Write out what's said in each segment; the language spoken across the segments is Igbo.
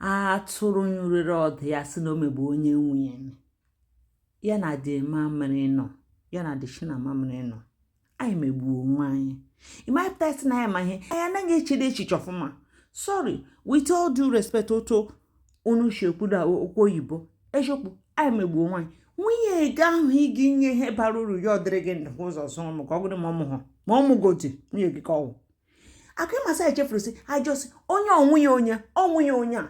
atụrụ nyụrịrị ọdụ ya sị na o megbu onye nwe ya na dị mamịrị nọ ya na dị na mamịrị nọ anyị megbuo onwe anyị ịmapụta si na ya ma ihe anyị anaghị echede echiche ọfụma sorry with all due respect otu unu si ekwuda okwu oyibo eziokwu anyị megbuo onwe anyị nwunye gị ahụ ị ga-enye ihe bara uru ya ọ dịrị gị ndụ ụzọ zụrụ m ka ọ mụrụ ma ọ mụhụ ma ọ mụgodi nwunye gị ka ọ wụ akụ ịmasa echefuru si a jụọ sị onye ọ nwunye onye ọ nwunye onye a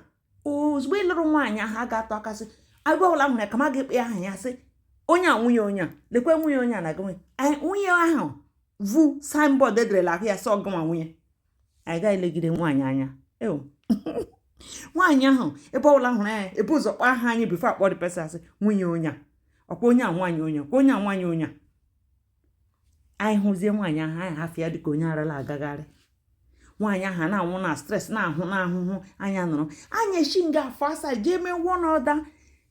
ozugbo ịlụrụ nwaanyị ahụ a ga-atụ aka sị agwa ọbụla nwere ka ma ga-akpọ aha ya sị onye a nwunye onye a lekwe nwunye onye a na gị nwunye ahụ vu signboard e dere n'ahụ ya sị ọ gị nwa nwe ya ị gaghị elegide nwaanyị anya eo nwaanyị ahụ ebe ọbụla a hụrụ ya e bu ụzọ kpọọ aha anyị before a kpọọ the person a sị nwunye onye a ọkwa onye a nwaanyị onye ọkwa onye a nwaanyị onye a anyị hụzie nwaanyị ahụ anyị hafụ ya dịka onye ara na-agagharị nwaanyị ahụ na-anwụ na stress na-anwụ n'ahụhụ anya nụrụ anya echi nga afọ asaa jee mee wụọ n'ọda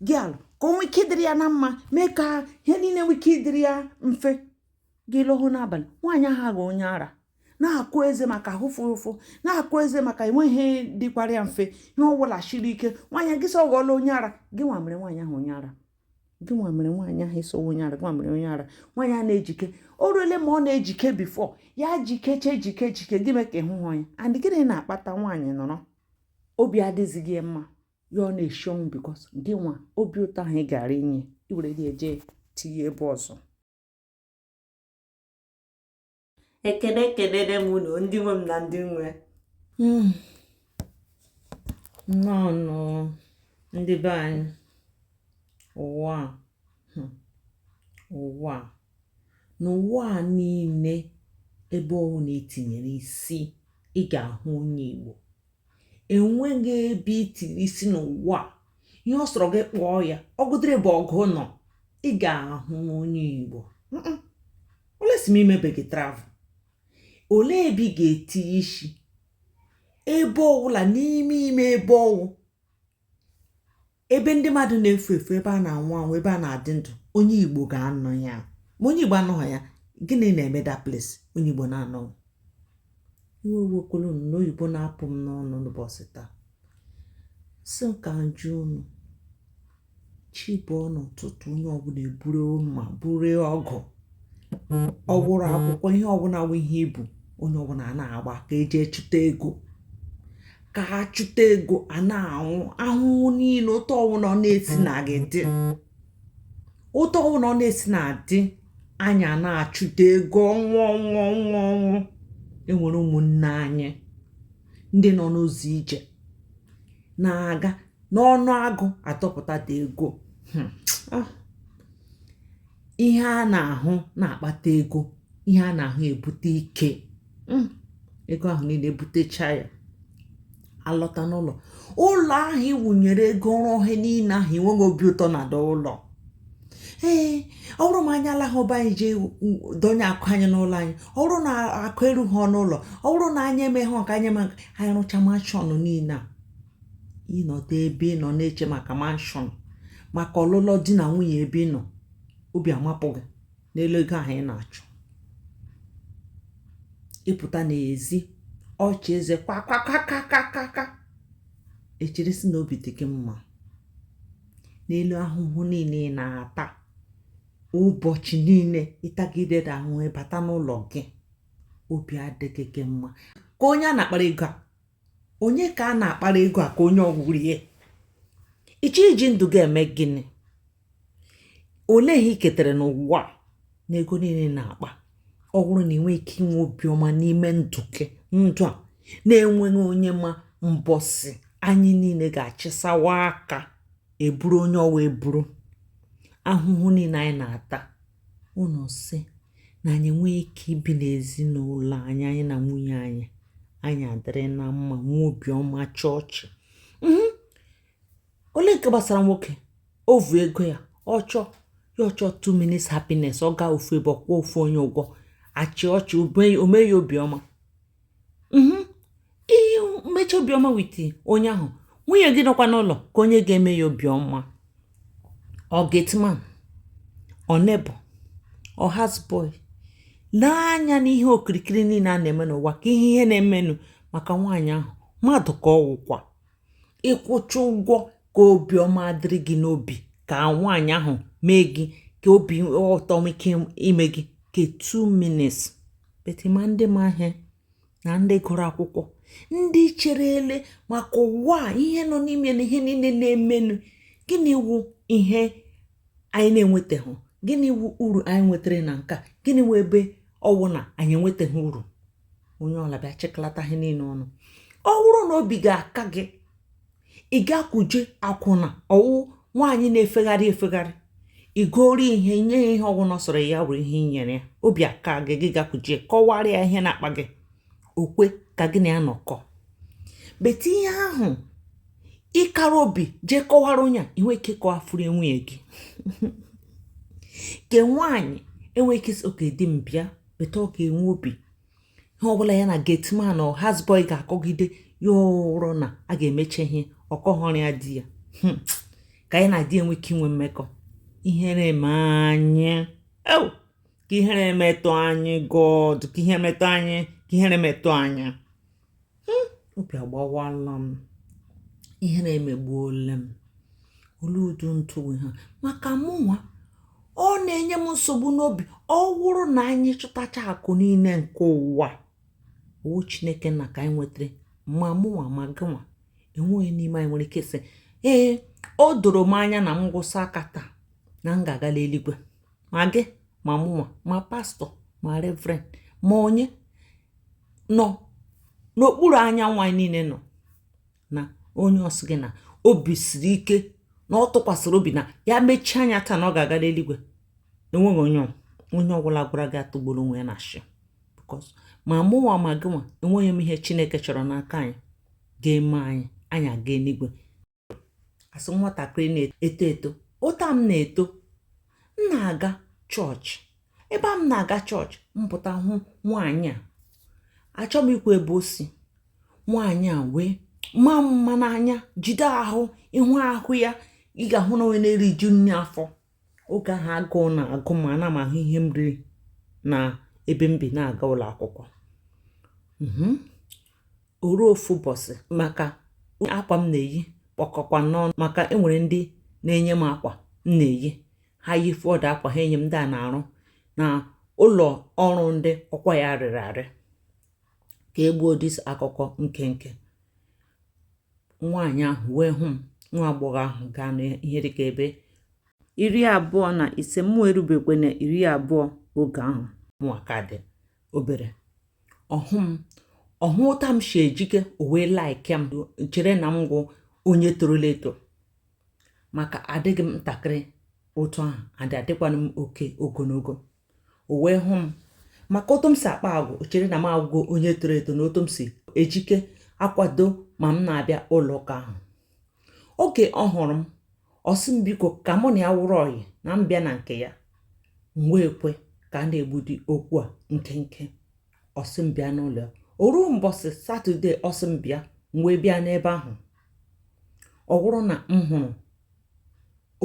gị alụ ka o nwee ike dịrị ya na mma mee ka ihe niile nwee ike ịdịrị ya mfe gị lọhụ n'abalị nwaanyị ahụ aghọọ onye ara na-akụ eze maka ahụ fụrụ ụfụ na-akụ eze maka enweghị dịkwara ya mfe ihe ọ bụla shiri ike nwaanyị gị sị ọ ghọọla onye ara gị nwa mere nwaanyị ahụ onye ara gị nwa mere nwaanyị ahụ a sị ọ wụ onye ara gị nwa mere onye ara nwaanyị a na-ejike o ruole ma ọ na-ejike before ya jikeche jike jike gị mee ka ị hụhụ ya and gịnị na-akpata nwaanyị nọrọ obi adịzighị ya mma ya ọ na-eshi ọnwụ because gị nwa obi ụtọ ahụ ị gara inye i were gị eje tinye ebe ọzọ ekene ekenere m unu ndị nwe m na ndị nwe hmm. nnọọ ndị be anyị ụwa hmm. ụwa n'ụwa a niile ebe ọwụna e tinyere isi ị ga-ahụ onye Igbo enweghị ebe i tiri isi n'ụwa ihe ọ sọrọ gị kpọọ ya ọgụdịrị bụ ọgụ nọ ị ga-ahụ onye igbo unless ma i mebeghị travel olee ebe ị ga-etinye isi ebe ọwụla n'ime ime ebe ọwụ ebe ndị mmadụ na-efu efu ebe a na-anwụ anwụ ebe a na-adị ndụ onye igbo ga-anọ ya ma onye igbo anọghị ya gịnị na-eme that place onye igbo na-anọghị iwe ewekwala unu na oyibo na-apụ m n'ọnụ n'ụbọchị taa sị ka m jụọ unu chi bọọ n'ụtụtụ onye ọbụla eburu mma buru ọgụ ọ wụrụ akwụkwọ ihe ọwụna wụ ihe i bu onye ọwụna a na-agba ka e jee chụta ego ka ha chụta ego a na-anwụ ahụhụ niile otu ọwụna ọ na-esi na gị dị otu ọwụna ọ na-esi na-adị anyị a na-achụta ego ọnwụ ọnwụ ọnwụ ọnwụ enwere ụmụnne anyị ndị nọ n'ụzọ ije na-aga n'ọnụ agụ atọpụta the ego hmm. ah. ihe a na-ahụ na-akpata ego ihe a na-ahụ ebute ike hmm, ego ahụ niile ebutecha ya alọta n'ụlọ ụlọ ahụ iwunyere ego rụọ ihe niile ahụ enweghị obi ụtọ na the ụlọ ee ọ wụrụ ma anyị alaghị be anyị jee donye akụ anyị n'ụlọ anyị ọ wụrụ na akụ erughị n'ụlọ ọ wụrụ na anyị emeghị nke anyị ma anyị rụcha mansion niile a ị nọdụ ebe ị nọ na-eche maka mansion maka ọlụlụ di na nwunye ebe ị nọ obi amapụ gị n'elu ego ahụ ị na-achụ ị pụta n'ezi ọchị eze kwakakakakaka e chere sị na obi dị gị mma n'elu ahụhụ niile ị na-ata ụbọchị niile ị tagide the ahụhụ ị bata n'ụlọ gị obi adịghị gị mma ka onye a na-akpara ego a onye ka a na-akpara ego a ka onye ọ wụrụ ihe ị chọ iji ndụ gị eme gịnị olee ihe i ketere n'ụwa na ego niile na-akpa ọ wụrụ na ị nweghị ike inwe obiọma n'ime ndụ gị ndụ a na-enweghị onye ma mbọsị anyị niile ga-achịsawa aka eburu onye ọwa eburu ahụhụ niile anyị na-ata Ụnụ sị na anyị nwee ike ibi n'ezinụlọ anyị, anyị na nwunye anyị, anyị adịrị na mma, nwee obiọma, achị ọchị. Mhm. Olee nke gbasara nwoke? O vu ego ya, ọ chọọ ya ọ chọọ two minutes happiness, ọ gaa ofu ebe, ọ kwụọ ofu onye ụgwọ, achị ọchị, o mee ya obiọma. mhm. i mechaa obiọma with onye ahụ nwunye gị nọkwa n'ụlọ ka onye ga-eme ya obiọma ọ gateman ọ neighbour ọ houseboy lee anya n'ihe okirikiri niile a na-eme n'ụwa ka ihe ihe na-emenụ maka nwaanyị ahụ mmadụ ka ọ wụkwa ị kwụchaa ụgwọ ka obiọma dịrị gị n'obi ka nwaanyị ahụ mee gị ka obi ụtọ nwee ike ime gị ka 2 minutes but ma ndị ma ihe na ndị gụrụ akwụkwọ ndị cherele maka ụwa a ihe nọ n'ime na ihe niile na-emenụ gịnị wụ ihe anyị na-enwetaghị gịnị wu uru anyị nwetara na nke a gịnị wu ebe ọwụ na anyị enwetaghị uru onye ọla bịa chịkọlata ihe niile ọnụ ọ bụrụ na obi ga-aka gị ị gakwuje akwụna ọwụ nwaanyị na-efegharị efegharị igori ihe nye ya ihe ọwụna sọrọ ya were ihe inyere ya obi aka gị gị gakwuje kọwara ya ihe na-akpa gị okwe ka gị na ya nọkọ but ihe ahụ ịkara obi jee kọwara onye a inwe ike kọwafuru nwunye gị ke nwaanyị enwe ike sị okay di m bịa but ọ ga-enwe obi ihe ọbụla ya na gateman or houseboy ga-akọgide ya ụrọ na a ga-emecha ihe ọ kọghọrọ ya di ya hmm. ka ya na di enwe ike inwe mmekọ ihere eme anyị ka ihere metụ anyị god ka ihe metụ anyị ka ihere metụ anyị hmm, obi agbawala m ihere emegbuola m olu udu ntụ ha maka mụnwa ọ na-enye m nsogbu n'obi ọ wụrụ na anyị chụtacha akụ niile nke ụwa ọ wụ chineke nna ka anyị nwetara ma mụnwa ma gịnwa enweghị n'ime anyị nwere ike sị ee o doro m anya na m gwụsa aka taa na m ga-agala eluigwe ma gị ma mụnwa ma pastor ma reverend ma onye nọ n'okpuru anyanwụ anyị niile nọ na onye ọ sị gị na obi siri ike na ọ tụkwasịrị obi na ya mechie anya taa na ọ ga-agala eluigwe enweghị onye onye ọbụla gwara gị atụgbuola onwe ya n'ashị because ma mụnwa ma gịnwa enweghị m ihe chineke chọrọ n'aka anyị ga-eme anyị anyị aga eluigwe as nwatakịrị na-eto eto otu m na-eto m na-aga chọọchị ebe a m na-aga chọọchị m pụta hụ nwaanyị a achọ m ikwu ebe o si nwaanyị a wee maa mma n'anya jide ahụ ị hụ ahụ ya ị ga-ahụ na onye na-eriju nri afọ oge ahụ agụụ na-agụ m ana m ahụ ihe m riri na ebe m bi na-aga ụlọ akwụkwọ mhm. o ruo ofu ụbọchị maka akwa m na-eyi kpọkọkwa n'ọnụ maka enwere ndị na-enye m akwa m na-eyi ha yi fọdụ akwa ha enye m ndị a na-arụ na ụlọ ọrụ ndị ọkwa ya rịrị arị ka egbuo this akụkọ nkenke nwaanyị ahụ wee hụ m nwa agbọghọ ahụ gaa n'ihe dịka ebe iri abụọ na ise mụ erubekwe na iri abụọ oge ahụ mụwa ka dị obere ọ hụ m ọ hụ otu m si ejike o wee like m chere na m wụ onye torola eto maka adịghị m ntakịrị otu ahụ adị adịkwana m oke ogologo o wee hụ m maka otu m si akpa agwa o chere na m awụgo onye toro eto na otu m si ejike akwado ma m na-abịa ụlọ ụka ahụ oge ọ hụrụ m ọ sị m biko ka mụ na ya wụrụ ọyị na m bịa na nke ya m wee kwe ka a na-egbudi okwu a nkenke ọ sị m bịa n'ụlọ ya o ruo mbọsị satọde ọ sị m bịa m wee bịa n'ebe ahụ ọ wụrụ na m hụrụ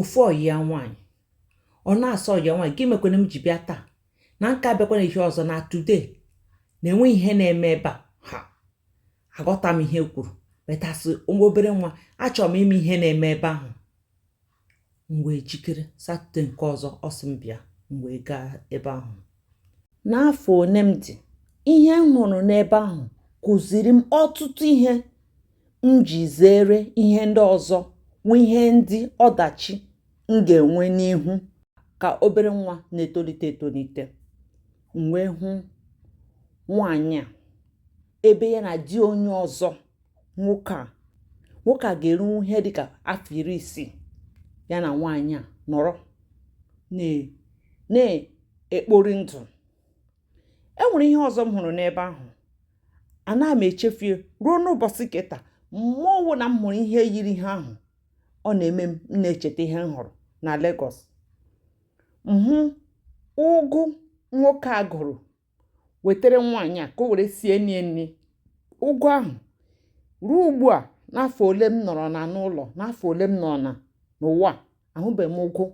ofu ọyị ya nwaanyị ọ na-asị ọyị ya nwa gịnị mekwanụ m ji bịa taa na m ka abịakwana ihe ọzọ na today na enweghị ihe na-eme ebe a ha aghọta m ihe kwuru but as obere nwa achọrọ m ịma ihe na-eme ebe ahụ m wee jikere satọde nke ọzọ ọ sị m bịa m wee gaa ebe ahụ N'afọ one m dị, ihe m hụrụ n'ebe ahụ kụziri m ọtụtụ ihe m ji zere ihe ndị ọzọ nwe ihe ndị ọdachi m ga-enwe n'ihu ka obere nwa na-etolite etolite. M wee hụ nwaanyị a ebe ya na di onye ọzọ nwoke a ga-eru ihe dịka afọ iri isii ya na nwaanyị a nọrọ na-ekpori ndụ e nwere ihe ọzọ m hụrụ n'ebe ahụ a na m echefie ruo n'ụbọchị ke taa ma ọ wụ na m hụrụ ihe yiri ihe ahụ ọ na-eme m na-echeta ihe m hụrụ na Lagos m hụ ụgụ nwoke a gụrụ wetara nwaanyị a ka o were sie nie nri ụgụ ahụ ruo ugbu a n'afọ ole m nọrọ na n'ụlọ n'afọ ole m nọna n'ụwa ahụbeghị m ụgụ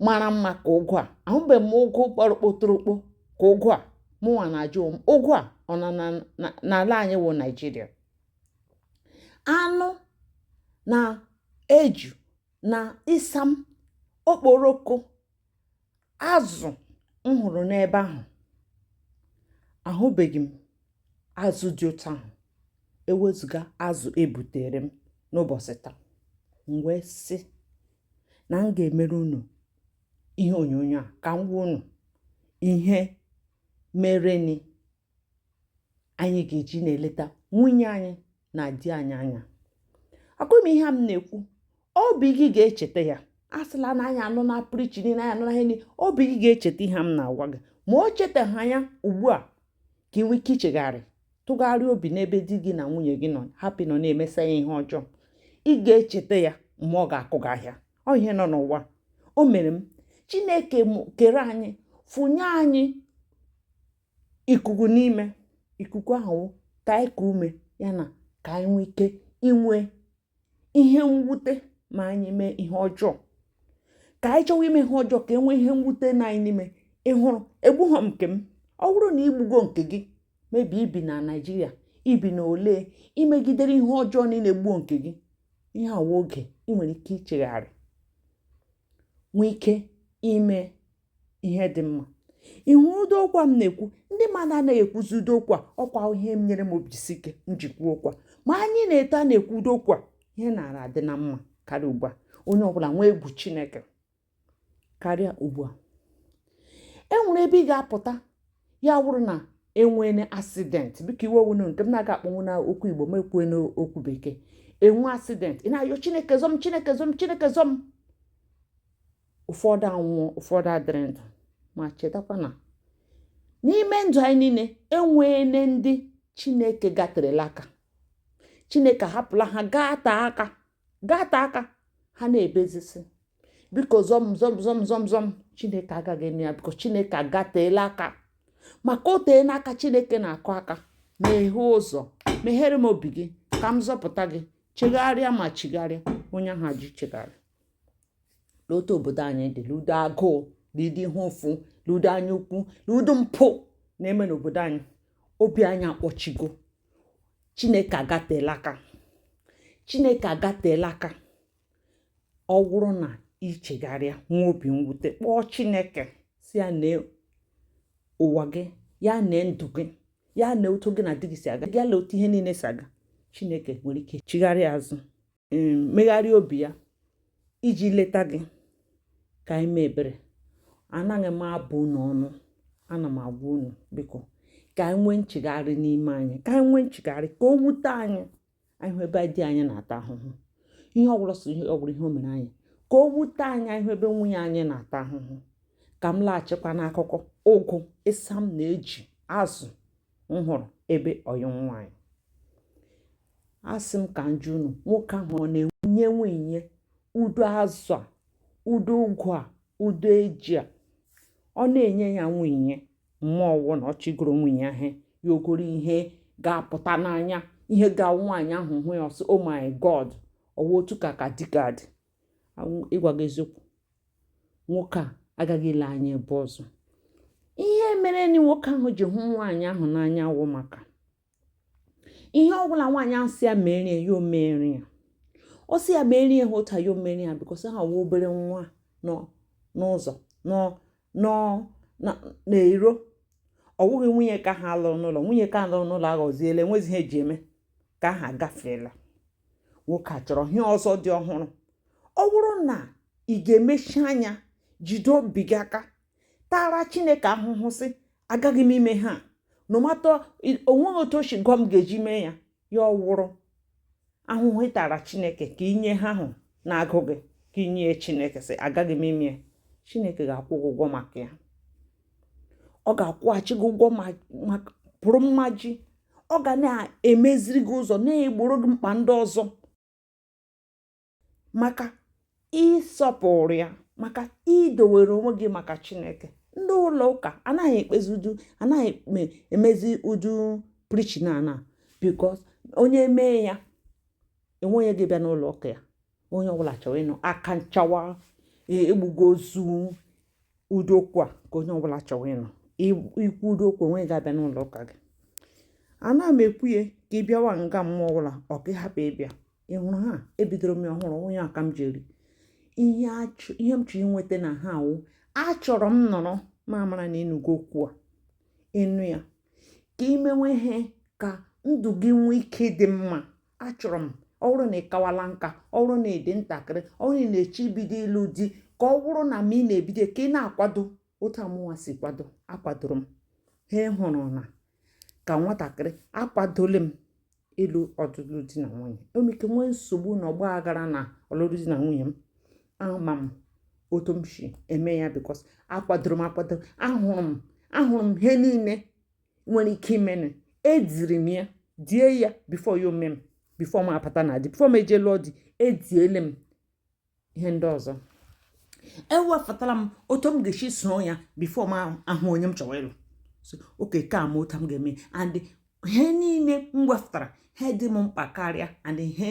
mara mma ka ụgụ a ahụbeghị m ụgụ gbara kpotorokpo ka ụgụ a mụnwa na-ajụ m ụgụ a ọ nọ n'ala anyị wụ naijiria anụ na eju na ịsam okporoko azụ m hụrụ n'ebe ahụ ahụbeghị m azụ dị otu ahụ ewezụga azụ ebutere m n'ụbọchị taa m wee sị na m ga-emere unu ihe onyonyo a ka m gwa unu ihe merenị anyị ga-eji na-eleta nwunye anyị na di anyị anya akọ m ihe m na-ekwu obi gị ga-echeta ya a sịla na anyị anụna preaching niile anyị anụna ihe niile obi gị ga-echeta ihe m na-agwa gị ma o chetaghị ya ugbu a ka ị nwee ike ichegharị tụgharịa obi n'ebe di gị na nwunye gị nọ hapụ ịnọ na-emeso ya ihe ọjọọ ị ga-echeta ya mgbe ọ ga-akụ gị ahịa ọ ihe nọ n'ụwa o mere m chineke kere anyị fụnye anyị ikuku n'ime ikuku ahụ ka anyị kuo ume ya na ka anyị nwee ike inwe ihe mwute ma anyị mee ihe ọjọọ ka anyị chọwa ime ihe ọjọọ ka e nwee ihe mwute na anyị n'ime ị hụrụ egbughọ m nke m ọ bụrụ na igbugo nke gị ma ibi ibi na naijiria ibi na ole imegidere ihe ọjọọ niile gbuo nke gị ihe a wụ oge ị nwere ike ichegharị nwee ike ime ihe dị mma ị hụ ụdị okwu m na-ekwu ndị mmadụ anaghị ekwuzi ụdị okwu a ọkwa ihe m nyere m obi isi ike m ji ekwu okwu a ma anyị na-eto a na-ekwu ụdị okwu a ihe na-ara adị na mma karịa ugbu a onye ọbụla nwee egwu chineke karịa ugbu a e nwere ebe ị ga-apụta ya wụrụ na enwene accident biko iwe ewena unu nke m na-agaghị akpọnwu na okwu igbo m ekwue n'okwu bekee enwe accident ị na-ayọ chineke zọọ m chineke zọọ m chineke zọọ m ụfọdụ anwụọ ụfọdụ adịrị ndụ ma chetakwa na n'ime ndụ anyị niile enweele ndị chineke gaterela aka chineke hapụla ha gata aka gata aka ha na-ebezisi biko zọm zọm zọm zọm zọm chineke agaghị eme ya biko chineke agateela aka maka o tee n'aka chineke na-akụ aka meghee ụzọ meghere m obi gị ka m zọpụta gị chegharịa ma chigharịa onye ahụ ji chegharị n'otu obodo anyị dị n'ụdị agụụ n'ụdị ihe ụfụ n'ụdị anya ukwu n'ụdị mpụ na-eme n'obodo anyị obi anyị akpọchigo chineke agatela aka chineke agatela aka ọ wụrụ na i chegharịa nwee obi mwute kpọọ chineke sị ya nee ụwa gị ya nee ndụ gị ya nee otu gị na di gị si aga ya nee otu ihe niile si aga chineke nwere ike chigharịa azụ megharịa obi ya iji leta gị ka anyị mee ebere anaghị m abụ unu ọnụ ana m agwa unu biko ka anyị nwee nchegharị n'ime anyị ka anyị nwee nchegharị ka o wute anyị anyị hụ ebe di anyị na-ata ahụhụ ihe ọ wụrụ so ihe ọ wụrụ ihe o mere anyị ka o wute anyị anyị hụ ebe nwunye anyị na-ata ahụhụ ka m laghachikwa n'akụkọ ụgụ ịsam na eji azụ m hụrụ ebe ọyị nwaanyị asị m ka m jụọ unu nwoke ahụ ọ na-enye nwunye ụdị azụ a ụdị ụgụ a ụdị eji a ọ na-enye ya nwunye ma ọwụ na ọ chọ igoro nwunye ahụ ya egoro ihe ga-apụta n'anya ihe ga-awụ nwaanyị ahụ hụ ya ọ sị oh my god ọwụ otu ka ka di ga-adị ịgwa gị eziokwu nwoke a agaghị ile anya ebe ọzọ ihe mere na nwoke ahụ ji hụ nwaanyị ahụ n'anya wụ maka ihe ọbụla nwaanyị ahụ sị ya mere ya ya omere ya ọ sị ya mere ya ha otu ya omere ya because ha wụ obere nwa n'ụzọ n'iro ọ wụghị nwunye ka ha lụrụ n'ụlọ nwunye nke a lụrụ n'ụlọ aghọziela enwezi ihe eji eme ka ha gafeela nwoke a chọrọ ihe ọzọ dị ọhụrụ ọ bụrụ na ị ga-emechi anya jide obi gị aka taara chineke ahụhụ sị agaghị m ime ihe a no matter o nweghị otu o si gụọ m ga-eji mee ya ya wụrụ ahụhụ ị taara chineke ka ị nye ihe ahụ na-agụ gị ka ị nye chineke sị agaghị m ime ya chineke ga-akwụ gị ụgwọ maka ya ọ ga-akwụghachi gị ụgwọ pụrụ mmaji ọ ga na-emeziri gị ụzọ na-egboro gị mkpa ndị ọzọ maka ịsọpụrụ ya maka idowere onwe gị maka chineke ndị ụlọ ụka anaghị ekpezi ụdị anaghị emezi ụdị preaching a na because onye mee ya enweghị onye ga-abịa n'ụlọ ụka ya onye ọbụla chọrọ ịnụ aka nchawa e, egbugo ozu ụdị okwu a ka onye ọbụla chọrọ ịnụ i kwuo ụdị okwu o nweghị ga-abịa n'ụlọ ụka gị ana m ekwu ya ka ị bịawa nga m ma ọ wụ ka ị hapụ ịbịa ị hụrụ ihe a ebidoro m ya ọhụrụ onye aka m jiri ihe m chọrọ inweta n'ihe a wụ achọrọ m nọrọ ma mara na ị nụgo okwu a ị nụ ya ka i mewe ihe ka ndụ gị nwee ike dị mma achọrọ m ọ bụrụ na ị kawala nka ọ bụrụ na ị dị ntakịrị ọ bụrụ na ị na-eche ibido ịlụ di ka ọ bụrụ na ma ị na-ebido ka ị na-akwado otu mụnwa si kwado akwadoro m ha hụrụ na ka m nwatakịrị akwadola m ịlụ ọlụlụ di na nwunye enwere ike nwee nsogbu na ọgba aghara na ọlụlụ di na nwunye m ama m otu m si eme ya because akwadoro m akwado ahụrụ m ahụrụ m ihe niile nwere ike imene ediri m ya die ya before ya ome m before m abata na di before m eje lụọ di ediele m ihe ndị ọzọ ewepụtara m otu m ga-esi soo ya before m ahụ onye m chọrọ ịlụ oke ka m otu m ga-eme and ihe niile m wepụtara ha dị m mkpa karịa and ihe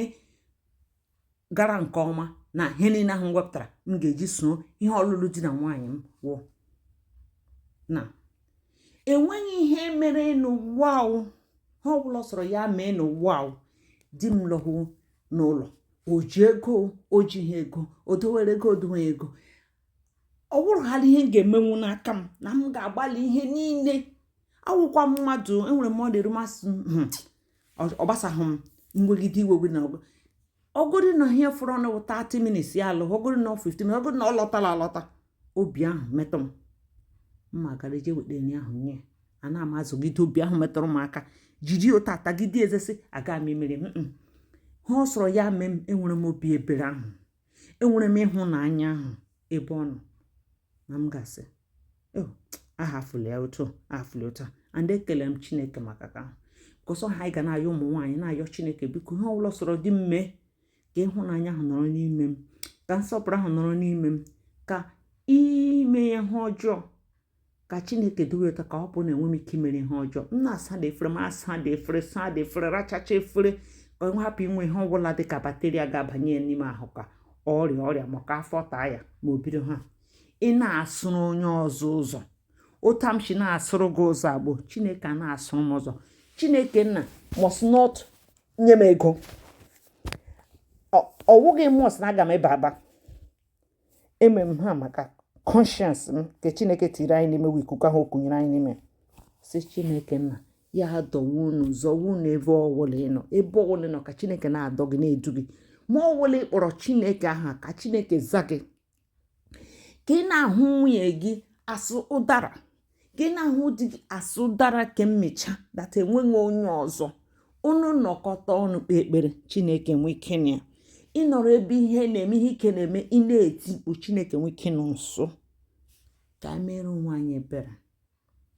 gara nke ọma na ihe niile ahụ m wepụtara m ga-eji soo ihe ọlụlụ di na nwaanyị m wụ na enweghị ihe mere n'ụwa ihe ọ bụla sọrọ ya mee n'ụwa di m lọhụ n'ụlọ o ji ego o jighị ego o dowere ego o doweghị ego ọ bụrụhaala ihe m ga-emenwu n'aka m na m ga-agbalị ihe niile awụkwa m mmadụ enwere m ọ dịrị m asị hmm, ọ gbasaghị m mwegide iwe gị na ọgụ ọgụrụ na ihe fọrọ na 30 minutes ya alọ ọgụrụ na 15 ọgụrụ na ọ lọtara alọta obi ahụ metụ m mma gara je weta nri ahụ nye ya na-ama azụgide obi ahụ metụrụ m aka jiri otu a tagide eze sị aga m emere m ha ọ sọrọ ya mee m enwere m obi ebere ahụ enwere m ịhụnanya ahụ ebe ọ nọ na m gasị oh, ahafụla ya otu ahafụla otu and ekele m chineke maka ka ahụ kọsọ ha anyị ga na-ayọ ụmụ nwaanyị na-ayọ chineke biko ihe ọbụla sọrọ di m mee ka ịhụnanya ahụ nọrọ n'ime m ka nsọpụrụ ahụ nọrọ n'ime m ka ime ihe ọjọọ ka chineke dowe otu ọ ga-abụ na enwe m ike imere ihe ọjọọ m na-asa dị efere m asa dị efere saa dị efere rachacha efere ka ọ hapụ inwe ihe ọbụla dị ka bakteria ga-abanye n'ime ahụ ka ọrịa ọrịa maka afọ taa ya ma o bido ha ị na-asụrụ onye ọzọ ụzọ otu a m si na-asụrụ gị ụzọ agbụ chineke a na-asụrụ m ụzọ chineke nna must not nye m ego ọ wụghị must na aga m ịba aba eme m ha maka conscience m nke chineke tiri anyị n'ime wee ikuku ahụ o kunyere anyị n'ime sị chineke nna ya dọwa unu zọwa unu ebe ọwụla ị nọ ebe ọwụla ị nọ ka chineke na-adọ gị na-edu gị ma ọwụla ị kpọrọ chineke aha ka chineke za gị ka ị na-ahụ nwunye gị as ụdara ka ị na-ahụ di gị as ụdara ka i mee sure that enweghị onye ọzọ unu nọkọta ọnụ kpee ekpere chineke nwee ike nụ ya ị nọrọ ebe ihe na-eme ihe ike na-eme ị na-eti mkpu chineke nwee ike nọ nso ka anyị mere onwe anyị ebere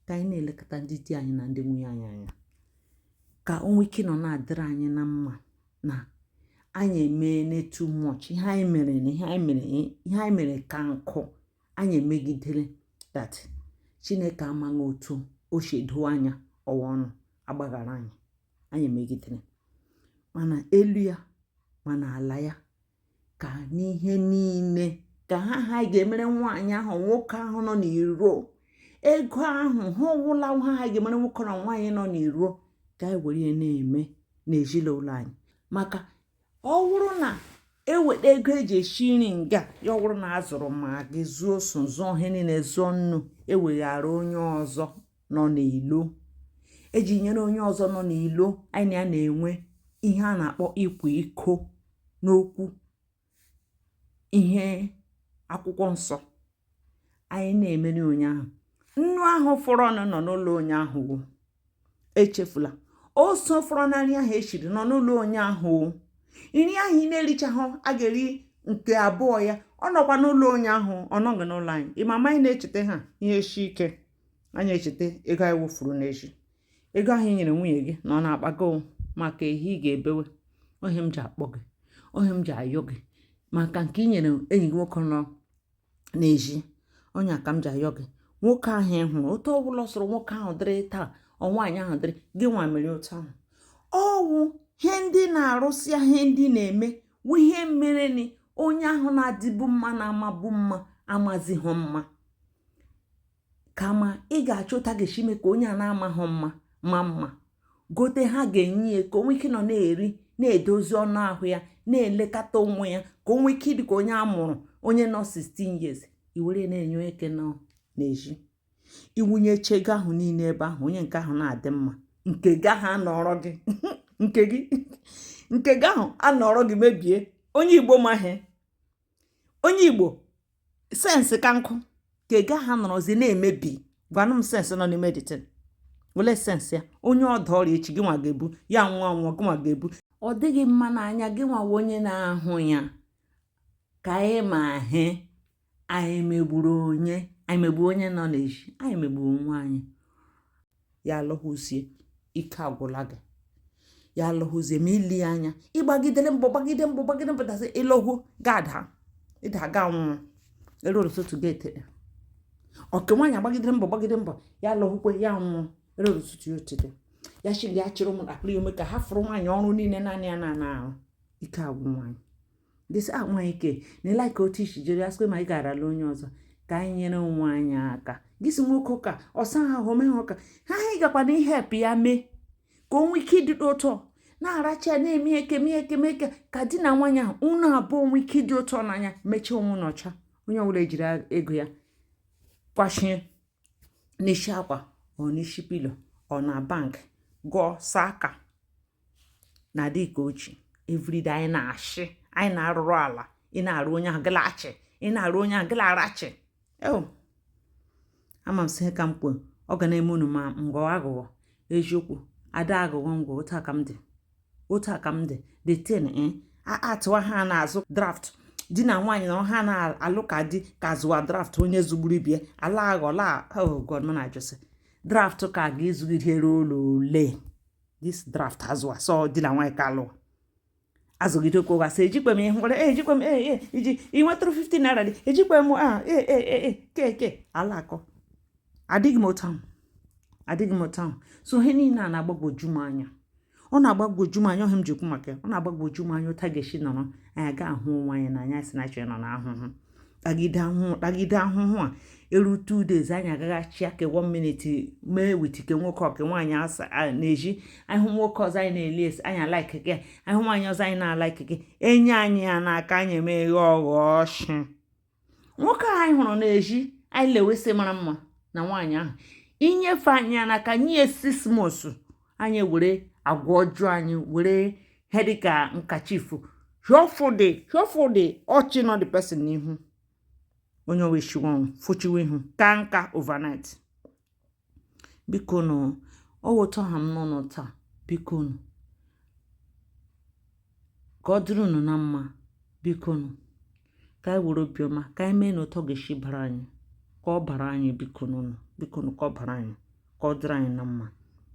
ka anyị na-elekọta ndị di anyị na ndị nwunye anyị anya ka o nwee ike nọ na-adịrị anyị na mma na anyị emeena too much ihe anyị mere na ihe anyị mere ihe anyị mere ka nku anyị emegidere that chineke amaghị otu o si doo anya ọwa ọ nọ agbaghara anyị anyị emegidere ma n'elu ya ma n'ala ya ka n'ihe niile ka ha ha ga-emere nwaanyị ahụ nwoke ahụ nọ n'iro ego ahụ ha ọwụla ha ha ga-emere nwoke na nwaanyị nọ n'iro ka anyị were ya na-eme n'ezinụlọ anyị maka ọ wụrụ na e weta ego e ji esi nri nga ya ọ bụrụ na a zụrụ maggi zụọ oso zụọ ihe niile zụọ nnu e wegara onye ọzọ nọ n'ilo e ji nyere onye ọzọ nọ n'ilo anyị ya na-enwe ihe a na-akpọ ịkwa iko n'okwu ihe akwụkwọ nsọ anyị na-emere onye ahụ nnu ahụ fọrọnụ nọ n'ụlọ onye ahụ echefula oso fọrọ nri ahụ e shiri nọ n'ụlọ onye ahụ nri ahụ ị na-erichaghị a ga-eri nke abụọ ya ọ nọkwa n'ụlọ onye ahụ ọ nọghị n'ụlọ anyị ịmama anyị na-echeta ha ihe shi ike anyị echeta ego anyị wụfuru n'ezi ego ahụ i nyere nwunye gị na ọ na-akpago maka ehi ị ga-ebewe ọ ihe m ji akpọ gị ọ ihe m ji ayọ gị maka nke i nyere enyi gị nwoke nọ n'ezi onye ka m ji ayọ gị nwoke ahụ ị hụrụ otu ọ bụla sọrọ nwoke ahụ dịrị taa nwaanyị ahụ dịrị gị nwa mere otu ahụ ọ wụ ihe ndị na-arụsị ihe ndị na-eme wụ ihe mere na onye ahụ na-adịbu mma na-amabu mma amazighị mma kama ị ga-achọ otu a ga-esi mee ka onye a na-amaghị mma ma mma gote ihe a ga-enye ya ka o nwee ike nọ na-eri na-edozi anụ ahụ ya na-elekọta onwe ya ka o nwee ike ịdị ka onye a mụrụ onye nọ 16 years i were na-enye onye nke nọ n'ezi i wunye ego ahụ niile ebe ahụ onye nke ahụ na-adị mma nke gị ahụ anọrọ gị nke gị nke gị ahụ anọrọ gị mebie onye igbo ma ihe onye igbo sense ka nkụ ka ego ahụ nọrọzi na-emebi gwanụ m sense nọ n'ime this thing olee sense ya onye ọ daa ọrịa echi gị nwa ga-ebu ya nwụọ gị nwa ga-ebu ọ dịghị mma n'anya gị nwa wụ onye na-ahụ ya ka anyị ma ihe anyị megburu onye anyị megburu onye nọ n'ezi anyị megburu onwe anyị ya alọhụzie ike agwụla gị ya alọhụzie ma ile anya ị gbagidere mbọ gbagide mbọ gbagide mbọ dazi ị lọhụ gada ịda ga nwụọ eruo ụtụtụ gị etete nke nwaanyị agbagidere mbọ gbagide mbọ ya alọhụkwe ya nwụọ eruo ụtụtụ ya etete ya chiri ya chịrị ụmụntakịrị ome ka hafụrụ nwaanyị ọrụ niile naanị ya na-arụ ike agwụ nwaanyị gị sị ah, nwa ike na ị like otu i si jiri asịkwe ma ị ga-arala onye ọzọ ka anyị nyere onwe anyị aka gị si nwoke ka ọ saa ahụ mee ha ụka ha anyị gakwa na-help ya mee ka o nwee ike ịdị ụtọ na-aracha ya na-eme ekeme ekeme eke ka di na nwaanyị ahụ unu abụọ nwee ike ịdị ụtọ n'anya mechie onwe n'ọcha onye ọbụla ejiri ego ya kwachie n'isi akwa or n'isi pillow or na bank gụọ saa aka na dị ka ochi everyday anyị na-achị anyị na-arụrụ ala ị na-arụ onye ahụ gịla achị ị na-arụ onye ahụ gịla arachị eo ama m sị ka m kwuo ọ ga na-eme unu ma m gọ agụgọ eziokwu ada agụgọ ngwa otu a ka m dị otu a ka m dị the thing eh, atụwa ha na-azụ draft di na nwaanyị na ha na-alụ ka di ka zụwa draft onye zụgburu ibe ya ala aghọla oh god m na-ajụ sị draft ka a ga-azụgide ruo ole this draft azụwa sọ di na nwaanyị ka lụwa azụgide okwu ụgha sị ejikwe m ihe nwere eh, ejikwe m ee eh, iji ị nwetụrụ 15 naira dị ejikwe m a ah, ee keke ala akọ adịghị m otu ahụ adịghị m otu ahụ so ihe niile a na-agbagwoju m anya ọ na-agbagwoju m anya ọ ihe a m ji kwuo maka ọ na-agbagwoju m anya otu a ga-esi nọrọ anyị aga ahụ onwe anyị n'anya asị na chọrọ nọ n'ahụhụ tagide ahụhụ tagide ahụhụ a eru two days anyị agaghachi aka one minute mee with ike nwoke ọka nwaanyị asa n'ezi anyị ahụ nwoke ọzọ anyị na-eli esi anyị alaiki gị ahụ nwaanyị ọzọ anyị na-alaiki gị enye anyị ya n'aka anyị emeghe ọghọ ọchị nwoke a anyị hụrụ n'ezi anyị lewe sị mara mma na nwaanyị ahụ e nyefe anyị ya n'aka nye ya six months anyị were agwa ọjọọ anyị were ihe dịka nkachifu hiọfụdị hiọfụdị ọchị nọ the person n'ihu onye owe shiwon fụchiwe ihu kaa nka overnight biko nụ ọ wụ otu ọ ha m n'ọnụ taa biko nụ ka ọ dịrị unu na mma biko nụ ka anyị were obiọma ka anyị mee nụ otu ọ ga-esi bara anyị ka ọ bara anyị biko nụ biko nụ ka ọ bara anyị ka ọ dịrị anyị na mma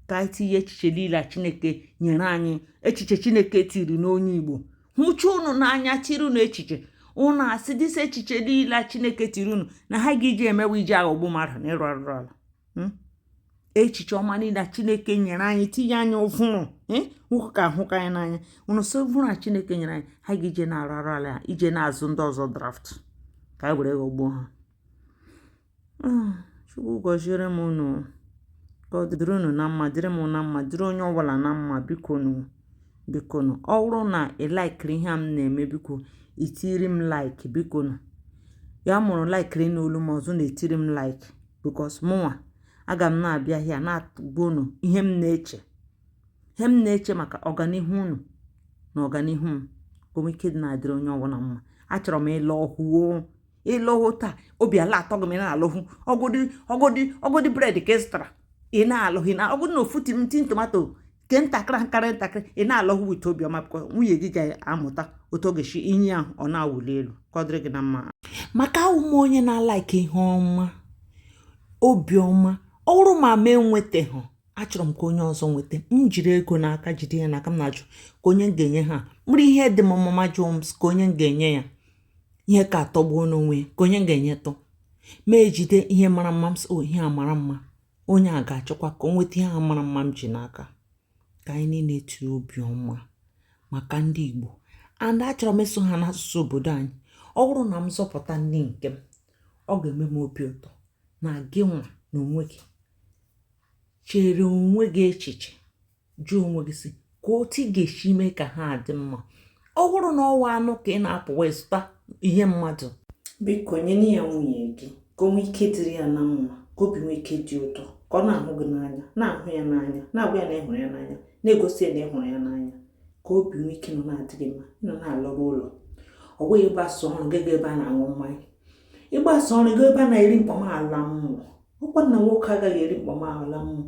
ka anyị tinye echiche niile a chineke nyere anyị echiche chineke tiri n'onye igbo hụcha unu n'anya tiri unu echiche unu asị this echiche niile chineke tiri unu na ha ga iji mewe iji aghọgbu mmadụ na ịrụ arụrụala hmm? echiche ọma niile chineke nyere anyị tinye anyị ụvụrụ hmm? nwoke a ahụka anyị n'anya unu sị ụvụrụ a chineke nyere anyị ha ga iji na-arụ arụrụala iji na-azụ ndị ọzọ draft ka anyị were ghọgbuo ha ah, chukwu gọziere m unu ka ọ dịrị unu na mma dịrị m na mma dịrị onye ọbụla na mma biko nụ biko nụ ọ bụrụ na ị laikiri ihe a m na-eme biko ị tiri m like biko nụ ya wụrụ ị laikiri ịnụ olu m ọzọ na-etiri m like because mụnwa aga m na-abịa here na-agwa unu ihe m na-eche ihe m na-eche maka ọganihu unu na ọganihu m ka o nwee ike dị na-adịrị onye ọbụla mma achọrọ m ịla ụhụ ị lọ ụhụ taa obi ala atọ gị ma ị na-alọ ụhụ ọ godị ọ godị ọ godị bread ka ị zụtara ị na-alọ ụhụ na ọ godị na ofu tin tin tomato nke ntakịrị nkarị ntakịrị ị na-alọ ụhụ with obiọma because nwunye gị ga-amụta otu ọ ga-esi i nye ya ọ na-awụli elu ka ọ dịrị gị na mma maka awụ m onye na-alaiki ihe ọma obiọma ọ wụrụ ma m enwetaghị achọrọ m ka onye ọzọ nweta m jiri ego n'aka jide ya n'aka m na-ajụ ka onye m ga-enye ha m rie ihe dị m mma m ajụọ ka onye m ga-enye ya ihe ka atọgbuo nụ onwe ya ka onye m ga-enyetụ m ejide ihe mara mma m sị o ihe a mara mma onye a ga-achọkwa ka o nweta ihe a mara mma m ji n'aka ka anyị niile tiri obi ọma maka ndị Igbo and achọrọ m ịsụ ha n'asụsụ obodo anyị ọ bụrụ na m zọpụta ndị nke m ọ ga-eme m obi ụtọ na gị nwa na onwe gị chere onwe gị echiche jụọ onwe gị si ka otu ị ga-esi mee ka ha dị mma ọ bụrụ na ọ wụ anụ ka ị na-apụwa zụta ihe mmadụ biko nye ya nwunye gị ka o nwee ike dịrị ya na mma ka obi nwee ike dị ụtọ ka ọ na-ahụ gị n'anya na-ahụ ya n'anya na-agwa ya na ị hụrụ ya n'anya na-egosi ya na ị hụrụ ya n'anya ka obi nwee ike nọ na-adị gị mma ị nọ na-alọrụ ụlọ ọ bụghị ị gbasaa ọrụ ị gaa ebe a na-aṅụ mmanya ị gbasaa ọrụ ị gaa ebe a na-eri mkpamala mmụọ ọkwa na nwoke agaghị eri mkpọm ahụ na mmụọ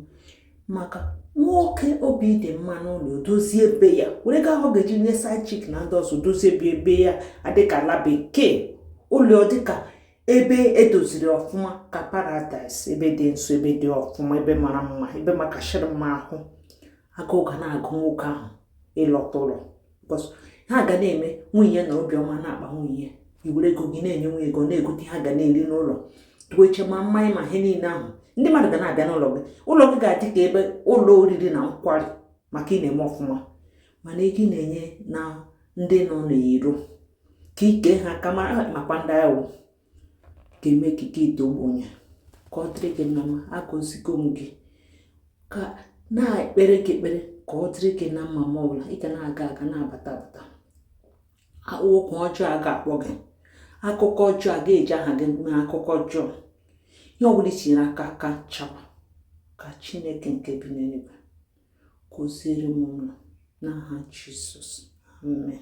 maka nwoke obi dị mma n'ụlọ dozie ebe ya were ego ahụ ọ ga-eji nye side chick na ndị ọzọ dozie ebe ebe ya adịka ala bekee ụlọ dịka ebe e doziri ọfụma ka paradaịs ebe dị nsọ ebe dị ọfụma ebe mara mma ebe makashịrị mma ahụ agụụ ga na-agụ nwoke ahụ ịlọta ụlọ because ha ga na-eme nwunye na obiọma na-akpa nwunye i were ego gị na-enye nwunye ego na-egote ihe a ga na-eri n'ụlọ tuo eche ma mmanya ma ihe niile ahụ ndị mmadụ ga na-abịa n'ụlọ gị ụlọ gị ga-adị ka ebe ụlọ oriri na nkwari maka ị na-eme ọfụma mana ego ị na-enye na ndị nọ n'iro ka ike ha ka mara makwa ndị ahụ ga-eme ka gị daa ogbenye ka ọ dịrị gị na mma agọzigo m gị ka na-ekpere gị ekpere ka ọ dịrị gị na mma ma ọ bụla ị ga na-aga aga na-abata abata oku ọjọọ a ga-akpọ gị akụkọ ọjọọ a ga-eji aha gị mee akụkọ ọjọọ ihe ọ bụla i tinyere aka ka ọ chakwaa ka chineke nke bi n'eluigwe gọziere m ụlọ n'aha jizọs amen